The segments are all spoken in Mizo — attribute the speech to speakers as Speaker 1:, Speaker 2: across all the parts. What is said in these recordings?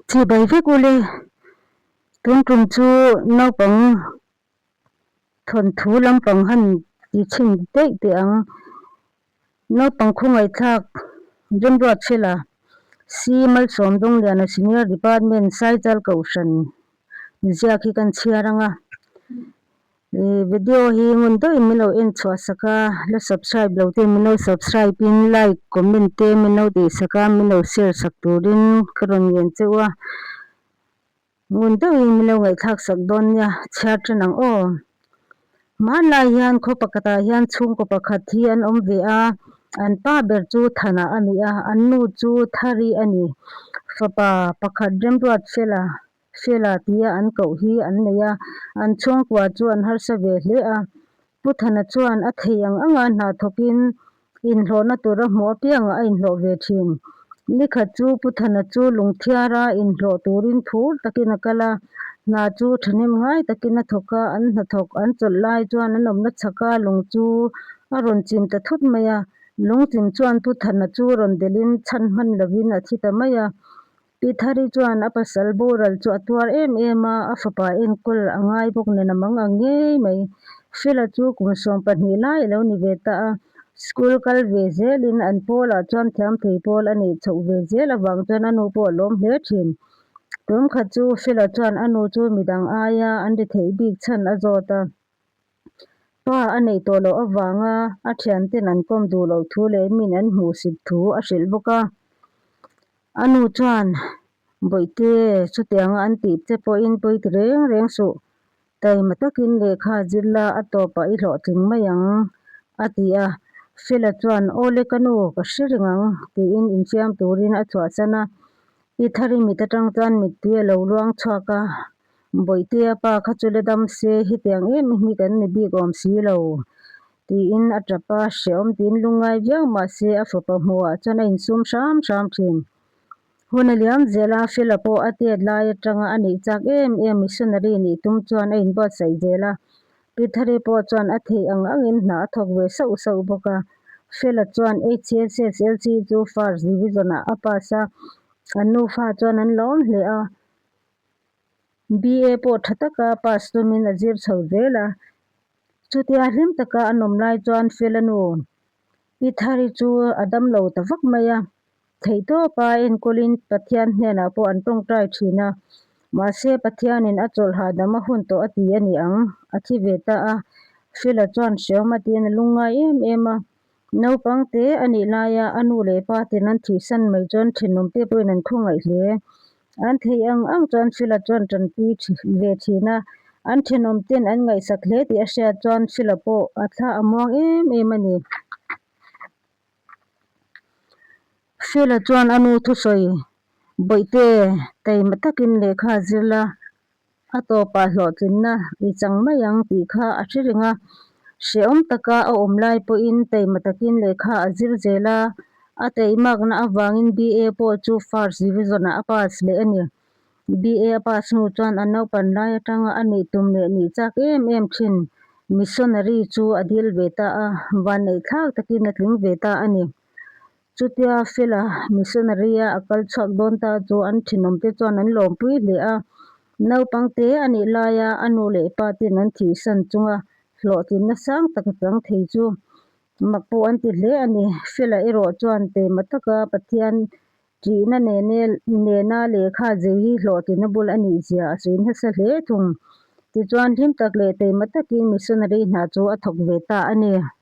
Speaker 1: Chhi bai vek ule, tun tum chu naupang thawn thu lampang han ti chhin daih teh ang. Naupang khawngaihthlak Rimruat Hrela, Si Malsawm Dawngliana Senior Department Saizal Kohhran ziak hi kan chhiar anga, Ih video hi ngun deuhin min lo en chhuahsak a, la subscribe lo ten min lo subscribe in like comment te min lo dei sak a, min lo share sak turin ka rawn ngen che u a, ngun deuhin min lo ngaihthlak sak dawn nia chhiar ṭan ang aw. Hmanlai hian khaw pakhatah hian chhungkaw pakhat hi an awm ve a, an pa ber chu Thana a ni a, an nu chu Thari a ni, fapa pakhat Remruat Fela, Sheila tia an koh hi an nei a, an chhungkua chu an harsa ve hle a. Pu Thana chuan a thei ang anga hnathawkin inhlawhna tur a hmuh apiangah a inhlawh ve thin. Ni khat chu Pu Thana chu lungthiara inhlawh turin phur takin a kal a, hna chu thahnem ngai takin a thawk a, an hnathawk an chawlh lai chuan an awmna chhaka lung chu a rawn chim ta thut mai a. Lungchim chuan Pu Thana chu rawn delhin chhan hman lovin a thi ta mai a, I Thari chuan a pasal boral chu a tuar em em a, a fapa enkawl a ngai bawk nen a mang ang ngei mai. Phila chu kum sawm pahnih lai a lo ni ve ta a, school kal ve zel in an pawl ah chuan thiam thei pawl a neih chhoh ve zel avang chuan a nu pawh a lawm hle thin. Tum kha chu Phila chuan a nu chu midang aia an ri theih bik chhan a zawt a. Pa a nei tawh loh avanga a thianten an kawm duh loh thu leh min an hmuh sip thu a hrilh bawk a. A nu chuan, Bawihte, chutianga an tih che pawhin pawi ti reng reng suh. Taima takin lehkha zir la, a tawpah i hlawh tling mai ang, a ti a. Fela chuan, Awle ka nu, ka hre reng ang, tiin infiam turin a chhuahsan a. I thari mit atang chuan mittui a lo luang chhuak a, Bawihtea pa kha chu la dam se, hetiang em i hmi kan ni bik awm si lo, tiin a tap a, hrehawm tiin lu ngai viau mah se a fapa hmuhah chuan a insum hram hram thin. Hun a liam zel a, Phila pawh a tet lai atanga a neih chak em em, missionary nih tum chuan a inbuatsaih zel a, Pithare pawh chuan a theih ang angin hna a thawk ve sauh sauh bawk a. Phila chuan HCSSLC chu first division ah a pass a, an nufa chuan an lawm hle a, BA pawh tha taka pass tumin a zir chho zel a. Chutia hlim taka a nawm lai chuan Felanu Pithari chu a dam lo ta vak mai a. Theihtawp a enkawlin Pathian hnenah pawh an tawngtai thin a. Mahse Pathianin a chawlhah dam a hun tawh a ti a ni ang. A thi ve ta a. Fela chuan hreaw matin a lungngai em em a. Naupangte a nih laia a nu leh pa ten an thihsan mai chuan thinlung te pawhin an khaw ngaih hle. An theih ang ang chuan Philot chuan tanpui ve thin a, an thinawm ten an ngaihsak hle tih a hriat chuan Philot pawh a thla a muang em em a ni. Philot chuan a nu thusawi bawihte taima takin lehkha zir la A tawpah hlawhtlinna i chang mai ang tih kha a hre reng a. Hrehawm taka a awm lai pawhin taima takin lehkha a zir zel a. A tei makna avangin BA pawh chu First Division-ah a pass leh a ni. BA a pass hnu chuan a naupan lai atanga a nih tum leh nih chak em em thin Missionary chu a dil ve ta a, vanneihthlak takin a tling ve ta a ni. Chutia Phil-a missionary-a a kal chhuak dawn ta chu an thinawm te chuan an lawmpui hle a. Naupang te a nih laia a nu leh pa te'n an thihsan chunga hlawhtlinna sang tak a chang thei chu mak pawh an ti hle a ni. Phil-a erawh chuan teima taka Pathian ṭihna nene nena lehkha zir hi hlawhtlina bul a ni zia a sawi nasa hle thung. Tichuan hlim tak leh teima takin missionary hna chu a thawk ve ta a ni.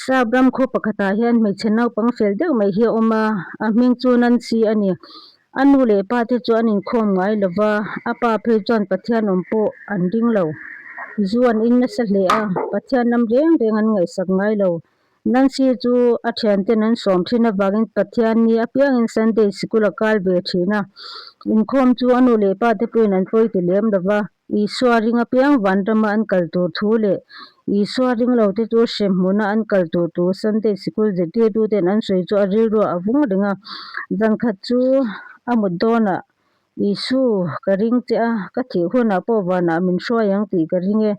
Speaker 1: Slab ram khaw pakhatah hian hmeichhe naupang fel deuh mai hi a awm a, a hming chu Nancy a ni. A nu leh pa te chu an inkhawm ngai lo va, a pa phei chuan Pathian awm pawh an ding lo. Zu an in nasa hle a, Pathian lam reng reng an ngaihsak ngai lo. Nancy chu a thianten an sawm thin avangin Pathian ni apiangin Sunday sikul a kal ve thin a. Inkhawm chu a nu leh pa te pawhin an pawi ti lem lo va. Isua ring apiang vanrama an kal tur thu leh Isua ring lote chu hre hmuna an kal tur tu Sunday sikul zirtirtute'n an sawi chu a rilruah a vung reng a. Zan khat chu a mut dawnah, Isu, ka ring che a, ka thih hunah pawh vanah min hruai ang tih ka ring e,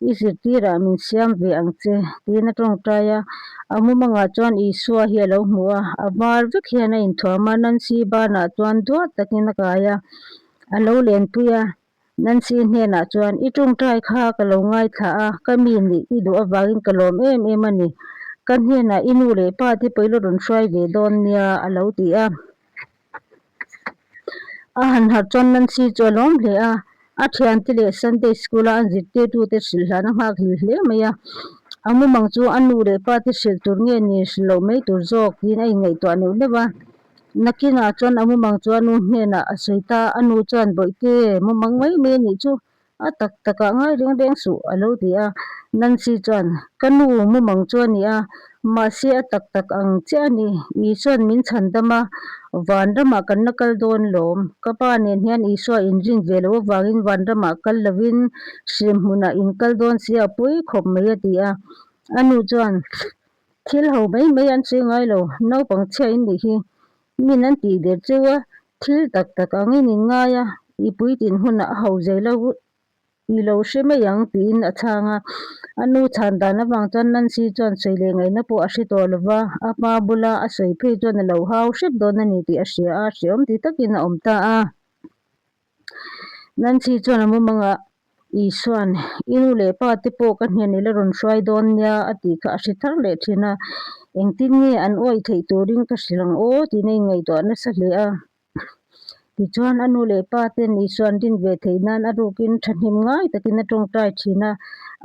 Speaker 1: i zirtirah min siam ve ang che, tiin a tawngtai a. A mumangah chuan Isua hi a lo hmu a, a var vek hian a inthuam a, Nancy banah chuan duah takin a kai a. A lo lentui a, Nancy-i hnenah chuan, I ṭawngṭai kha ka lo ngaithla a, ka mi nih i duh avangin ka lawm em em a ni. Ka hnenah i nu leh pa te pawilo rawn hruai ve dawn nia, a lo ti a. A han harh chuan Nancy chu a lawm hle a. A thiante leh Sunday School-a an zirtirtute hrilhlan a nghakhlil hle mai a. A mumang chu a nu leh pa te hrilh tur nge ni, hrilh loh mai tur zawk tiin a inngaihtuah neuh neuh a. Nakinah chuan a mumang chu a nu hnenah a sawi ta, a nu chuan Bawihte, mumang mai mai a nih chu, a tak takah ngai reng reng suh a lo ti a. Nancy chuan, Ka nu mumang chu a ni a, mahse a tak tak ang che a ni, Isua'n min chhan dam a, Vanramah kan la kal dawn lawm, ka pa nen hian Isua inrin ve loh avangin Vanramah kal lovin hriamhmunah inkal dawn sia a puikhawp mai a ti a. A nu chuan, Thil ho mai mai an sawi ngai lo, naupang chhia in nih hi min an tih der cheu a, thil tak tak ang in in ngai a, i puitin hunah a ho zai lo i lo hre mai ang tiin a chhang a, a nu chhan dan avang chuan Nancy chuan sawi leh ngaihna pawh a hre tawh lo va, a hma bula a sawi phei chuan a lo hau hrep dawn a ni tih a hria a, hreawm ti takin a awm ta a. Nan chi chuan a mawmang a, Isua'n, i nu leh pa te pawh ka hnian ila rawn hruai dawn nia a tih kha a hre thar leh thin a, engtin nge an uaih theih turin ka hrilh ang aw tiin a inngaihtuah nasa hle a. Tichuan, a nu leh pa ten Isua'n din ve theih nan a rukin thahnem ngai takin a tawngtai thin a,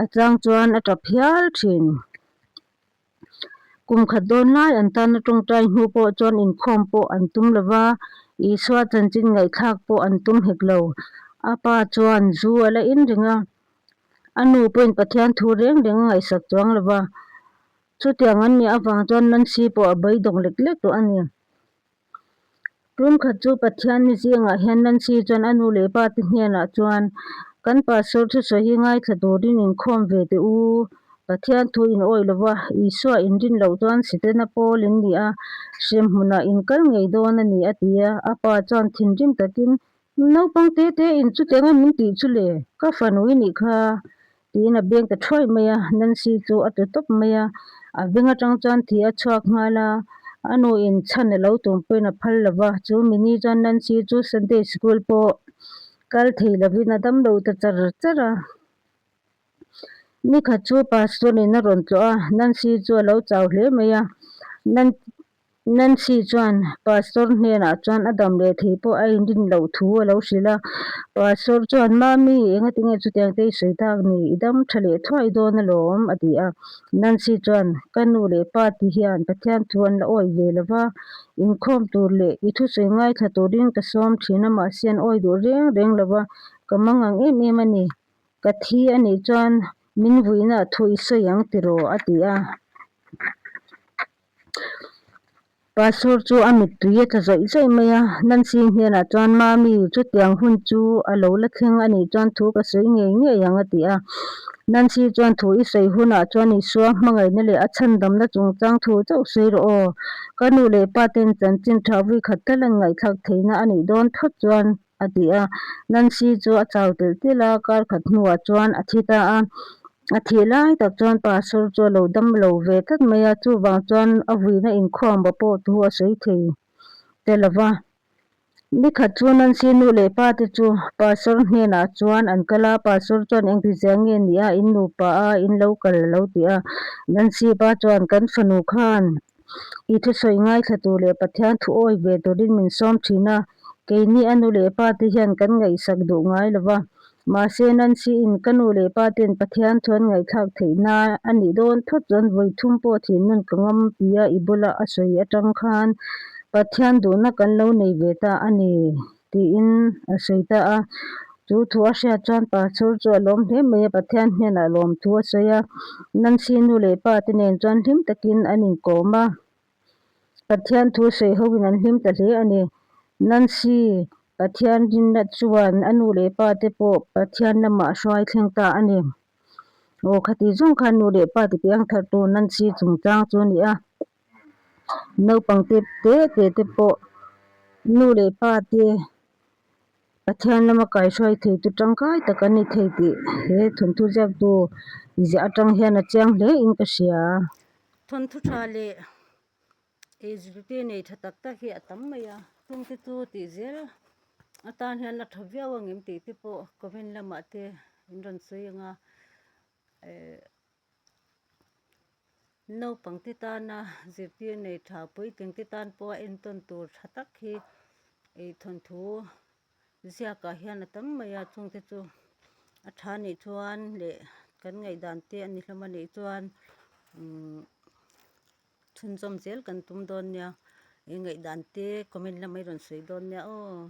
Speaker 1: a tlang chuan a tap hial thin. Kum khat dawn lai an tana tawngtai hnu pawh chuan inkhawm pawh an tum lo va, Isua chanchin ngaihthlak pawh an tum hek lo. A pa chuan zu a la in ring a, a nu pawhin Pathian thu reng reng a ngaihsak chuang lo va. Chutiang an nih avang chuan Nancy pawh a bawi dawng lek lek tawh a ni. Tum khat chu Pathianni zingah hian Nancy chuan a nu leh pa te hnenah chuan, Kan pastor thusawi hi ngaithla turin inkhawm ve teh u, Pathian thu in awih lo va, Isua in rin loh chuan si te na Paul in nia, hrem hmunah in kal ngei dawn a ni a ti a, a pa chuan thinrim takin Naupang te te in chute ngawm min tih chu le, ka fanu i nih kha tiin a beng ta thuai mai a, Nancy chu a tlu tawp mai a, a veng atang chuan thih a chhuak nghal a, a nu in chhan a lo tum pawhin a phal lova, chu min ni chuan Nancy chu Sunday School pawh kal thei lovin a dam lo ta char char a, ni khat chu Pastor in a rawn tlawh a, Nancy chu a lo chau hle mai a, Nancy chuan Pastor hnenah chuan a dam leh thei pawh a indin loh thu a lo hrilh a. Pastor chuan, Mami, engati nge chutiang te i sawi tak ni? I dam tha leh thuah i dawn alawm, a ti a. Nancy chuan, Ka nu leh pa ti hian Pathian thu an la awih ve lo va, inkhawm tur leh i thusawi ngaithla turin ka sawm thin a, mahse an awih duh reng reng lo va, ka mangang em em a ni. Ka thi a nih chuan min vuinah thu i sawi ang ti rawh, a ti a. Pastor chu a mittui a tla zawih zawih mai a, Nancy hnenah chuan, Mami, chutiang hun chu a lo la thleng a nih chuan thu ka sawi ngei ngei ang a ti a. Nancy chuan, Thu i sawi hunah chuan Isua hmangaihna leh a chhandamna chungchang thu chauh sawi rawh aw. Ka nu leh pa ten chanchin tha vui khat thla lan ngaihthlak theihna a nih dawn phawt chuan, a ti a. Nancy chu a chau telh telh a, kar khat hnuah chuan a thi ta a. A thih lai tak chuan pa Sir chu a lo dam lo ve tlat mai a, chuvang chuan a vuina inkhuangba pawh thu a sawi thei ta lo va. Ni khat chu Nancy nu leh pa te chu pa Sir hnenah chuan an kal a, pa Sir chuan eng rizia nge nia in nupa a in lo kal a lo ti a. Nancy pa chuan kan fanu khan I thusawi ngaithla tur leh Pathian thuawih ve turin min sawm thin a. Keini a nu leh pa te hian kan ngaihsak duh ngai lo va. Mahse, Nancy in ka nu leh pa ten Pathian thu an ngaihthlak theih na a nih dawn thut chuan vawi thum pawh thinun ka ngam pi a, i bula a sawi atang khan Pathian duhna kan lo nei ve ta a ni. Tiin a sawi ta a. Chu thu a hriat chuan pa Chhur chu a lawm hle mai a, Pathian hnenah lawm thu a sawi a. Nancy nu leh pa te nen chuan hlim takin an inkawm a. Pathian thu sawi hoin an hlim ta hle a ni. Nancy Pathian rinna chuan a nu leh pa te pawh Pathian lamah hruai thleng ta a ni. Aw, khati zawng khan nu leh pa tipiang thartu Nancy chungchang chu a ni a. Naupang te te te te pawh nu leh pa te Pathian lama kaihruai theitu tangkai tak an ni thei tih he thawnthu ziaktu ziah atang hian a chiang hle in ka hria a. Thawnthu tha leh HBPI nei tha tak tak hi a tam mai a, chungte chu tih zel atan hian a tha viau ang em tih te pawh comment lamah te in rawn sawi ang a. Naupangte tana zirtir nei tha puitengte tan pawha entawn tur tha tak hi thawnthu ziakah hian a tam mai a. Chungte chu a tha nih chuan leh kan ngaihdan te a ni hlawm a nih chuan umm chhunzawm zel kan tum dawn nia ngaihdan te comment lamah i rawn sawi dawn nia aw.